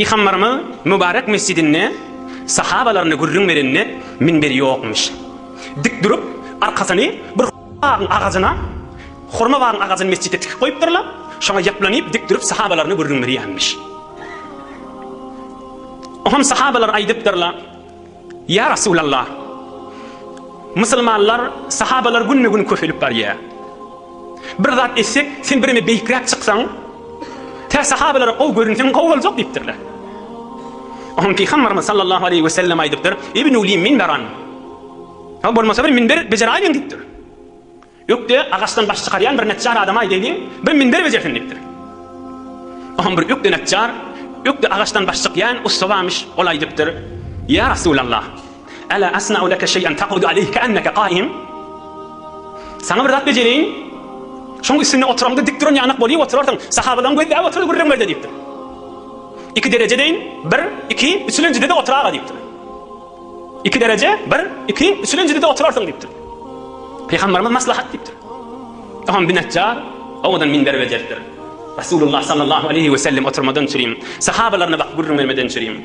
Pygambarymyz Mübarek mesjidinde sahabalaryna gürrüň berende minberi ýokmyş. Dik durup, arkasyny bir hurma bagyň agajyna, hurma bagyň agajyny mesjitde tikip goýupdyrlar, şoňa ýaplanyp dik durup sahabalaryna gürrüň berýänmiş. Oňam sahabalar aýdypdyrlar. Ýa Resulallah! Musulmanlar, sahabalar günbe-gün köpelip barýar. Bir zat etsek, sen bireme beýikräk çyksaň, tä sahabalara gowy görünseň gowy boljak diýipdirler. Oňa Pygamberimiz sallallahu aleýhi wesellem aýdypdyr, Ibnu li minberan! Bolmasa bir minber bejeräýiň diýipdir. Ökde agaçdan baş çykarýan bir neçjar adama aýdaýlyň, bir minber bejersin diýipdir. Oňam bir ökde neçjar, ökde agaçdan baş çykýan ussa barmyş, ol aýdypdyr, Ýa Resulallah, Ela asna'u leke şeý'en takudu aleyhi ke'enneke qaim? Saňa bir zat bejerýin, şoň üstünde oturanda dik duran ýanak bolýup oturarsyň, sahabalaryň gözläp oturdy gürrüňlerde diýipdir. Iki dereje deýin, bir, iki, üçülenjide-de otur aga diýipdir. Iki dereje, bir, iki, üçülinjide-de oturarsyň diýipdir. Pygamberimiz maslahat diýipdir. Soňam binetjar owadan minber bejeripdir. Resulullah sallallahu aleýhi we sellem oturmadan çürim, sahabalaryna bakyp gürrüň bermeden çürim.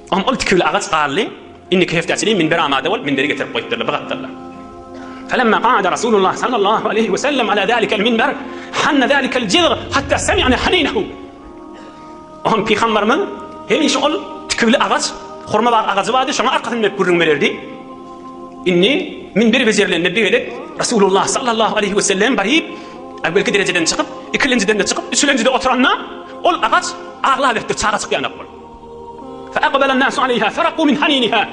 Soňam ol tikili agaç galdy. Indiki hepdä çenli minber amada bolup, minberi getirip goýupdyrlar, bugatdyrlar. Felemma ga'ada Resulullah sallallahu aleýhi we sellem ala zalikel minber, hanna zalikel jizg, hatta semi'na haninehu. Onuň pygamberimiz hemişe ol tikiwli agaç, hurma bar agajy bardy, şoňa arkasyn dönüp gürrüň bererdi. Indi min bir bezirlende bir gezek Resulullah sallallahu aleýhi wesellem baryp, äwwelki derejeden çykyp, ikilinjiden-de çykyp, üçülinjide oturanda, ol agaç aglaberipdir, çaga çykýanok bolup. Fe aqbalan nasu aleýha feraqu min haniniha.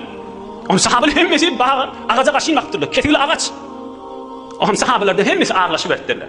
Ony sahabalar hemmesi baga, agaja gaşyn bakypdyrlar. Kesigli agaç. Onuň sahabalardan hemmesi aglaşyberipdirler.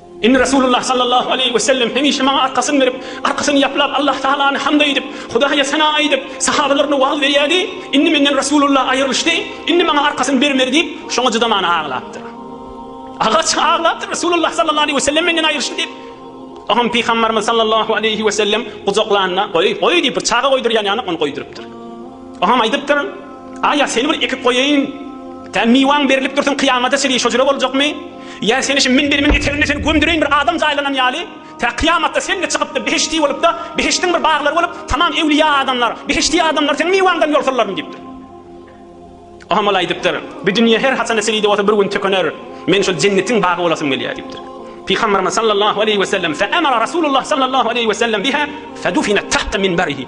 Indi Resulullah sallallahu aleýhi we sellem hemişe maňa arkasyny berip, arkasyny ýaplap Allah tagalany hamd aýdyp, Hudaýa sena aýdyp, sahabalaryna wagyz berýärdi, indi menden Resulullah aýrylyşdy, indi maňa arkasyny bermedi diýip, şoňa çydaman aglapdyr. Agaç aglapdyr Resulullah sallallahu aleýhi we sellem menden aýrylyşdy diýip. Oňam Pygambarymyz sallallahu aleýhi we sellem gujaklanda, Goý, goý diýip, bir çaga goýdurýan ýaly ony goýdurypdyr. Ogam aýdypdyr, Aýa, seni bir ekip goýaýyn, tä miwaň berilip dursun, kyýamada çenli şo jüre boljakmy? Ýa seni şu minberimiň eteginde seni gömdüreýin bir adam jaýlanan ýaly, tä kyýamatda sen-de çykyp-da behişdi bolup-da, behişdiň bir baglary bolup, tamam öwlüýä adamlar, behişdi adamlar seň miwaňdan ýol sallaryn diýipdir. Ogam ol aýdypdyr, Bu dünýe her haçan-da çenli-de bolsa bir gün tükener, men şol jennetiň bagy bolasym gelýär diýipdir. Pygamberimiz sallallahu aleýhi we sellem, Fe emara Rasulullah sallallahu aleýhi we sellem biha fedufinat tahta minbarihi.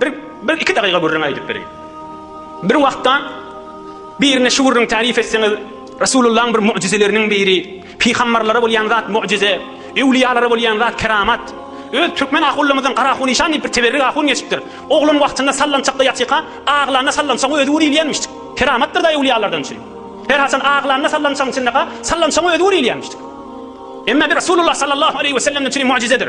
Bir bir iki dagyga gürrüň aýdyp bereýin. Bir wagtda birine şu gürrüň tarif etseňiz, Resulullahyň bir mu'jizeleriniň biri, pygambarlara bolýan zat mu'jize, öwliýalara bolýan zat keramat. Öz türkmen ahunlarymyzdan Garahunişan diýip bir teberrik ahun geçipdir. Oglan wagtynda sallançakda ýatyka, aglanda sallançagyň özi gürülýänmişdik. Keramatdyr-da öwliýalardan üçin. Her haçan aglanda sallançagyň içindeka, sallançagyň özi gürülýänmişdik. Emma bir Resulullah sallallahu aleýhi wesellemden üçin mu'jizedir.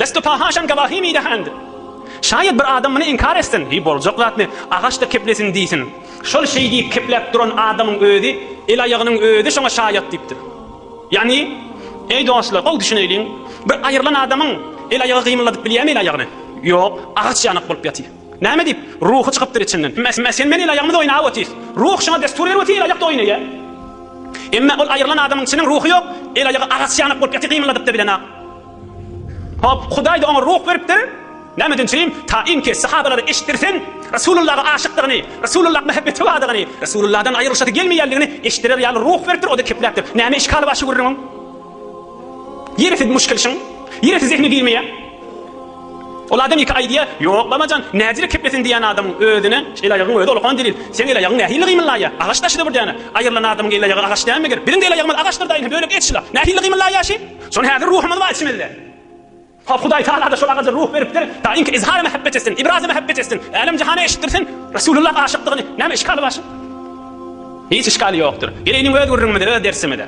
Desto pahaşan gavahi mi dehand. Şaýat bir adam muny inkar etsin, heý boljak zatmy, agaç-da keplesin diýsin. Şol şeý diýip kepläp duran adamyň özi, el-aýagynyň özi şoňa şaýat diýipdir. Ýagny, eý dostlar, gowy düşüneýliň, bir aýrylan adamyň el-aýagy gymylladyp bilýärmi el-aýagyny? Ýok, agaç ýanak bolup ýatyr. Näme diýip, ruhy çykypdyr içinden. Emma sen meniň el-aýagymyz oýnap otyrys. Ruh şoňa dessur berip otyr, el-aýak-da oýnaýar. Emma ol aýrylan adamyň çynyň ruhy ýok, el-aýagy agaç ýanak bolup ýatyr gymylladyp-da bilenok. Hop, Hudaý-da oňa ruh beripdir. Nämeden çyn? Taýynki, sahabalara eşitdirsin, Resulullaha aşykdygyny, Resulullaha mähebeti bardygyny, Resulullahdan aýrylyşasy gelmeýändigini eşitdirer ýaly ruh beripdir, o-da kepläpdir. Näme işgaly bar şu gürrüňiň? Ýeresiz muşkilşiň. Ýeresiz zehni girmeýär. Ol adam iki aýdýar, Ýok, babajan, näzire keplesin diýýän adamyň özüne el-aýagyň özi ulkan delil. Seň el-aýagyň nähili gymyllaýar? Agaç daşy-da bir däne. Aýrylan adamyň el-aýagy agaç dälmidir? Biziň-de el-aýagymyz agaçdyr daýynha, bölek et şula. Nähili gymyllaýar şi? Şony häzir ruhumyz bar içimizde. Hop Hudaý Tagalada şol agaja ruh beripdir, taýynki izhary mähebbet etsin, ibraz-y mähebbet etsin, älem jahana eşitdirsin Resulullah aşykdygyny, näme işgaly bar şuň? Hiç işgaly ýokdur. Geleýiniň öz gürrüňimize, öz dersimize.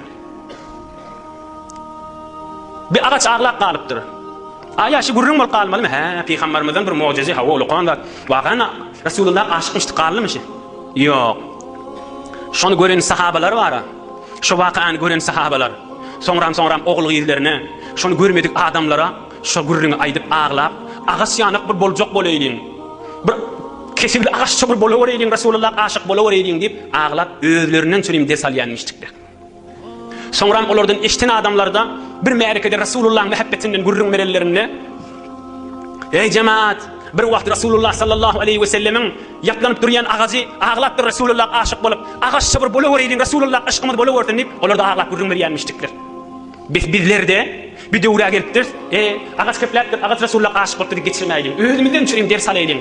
Bir agaç aglap galypdyr. Aýa şu gürrüň bolup galmalymy? Hä, pygambarymyzdan bir mugjyzy, hawa ulukan zat. Wagana Resulullah aşykmyşdy, gallymyşy? Ýok. Şony gören sahabalar bar-a. Şu wakany gören sahabalar, soňram-soňram ogul-gyzlaryna, şony görmedik adamlara şo gürrüňi aýdyp aglap, Agaç ýanak bir boljak bolaýlyň, bir kesewli agaç çugur bolawereýliň, Resulyllak aşyk bolawereýliň diýip aglap, özlerinden çürim ders alýanmyşdyklar. Soňram olardan eşden adamlarda bir märekede Resulullaň mähebbetinden gürrüň berenlerinde, Eý, jemaat! Bir wagt Resulullah sallallahu aleýhi wesellemiň Ýaplanyp durýan agajy aglapdyr Resulullah aşyk bolup agaç şybyr bolaweriýin Resulullah yşkymyz bolawersin diýip olarda aglap gürrüň berýänmişdikler. Bes bizlerde bir döwrä gelipdiris e agaç kepläpdir agaç Resulullah aşyk bolupdyr diýip geçirmäýliň özümizden üçin hem ders alaýlyň.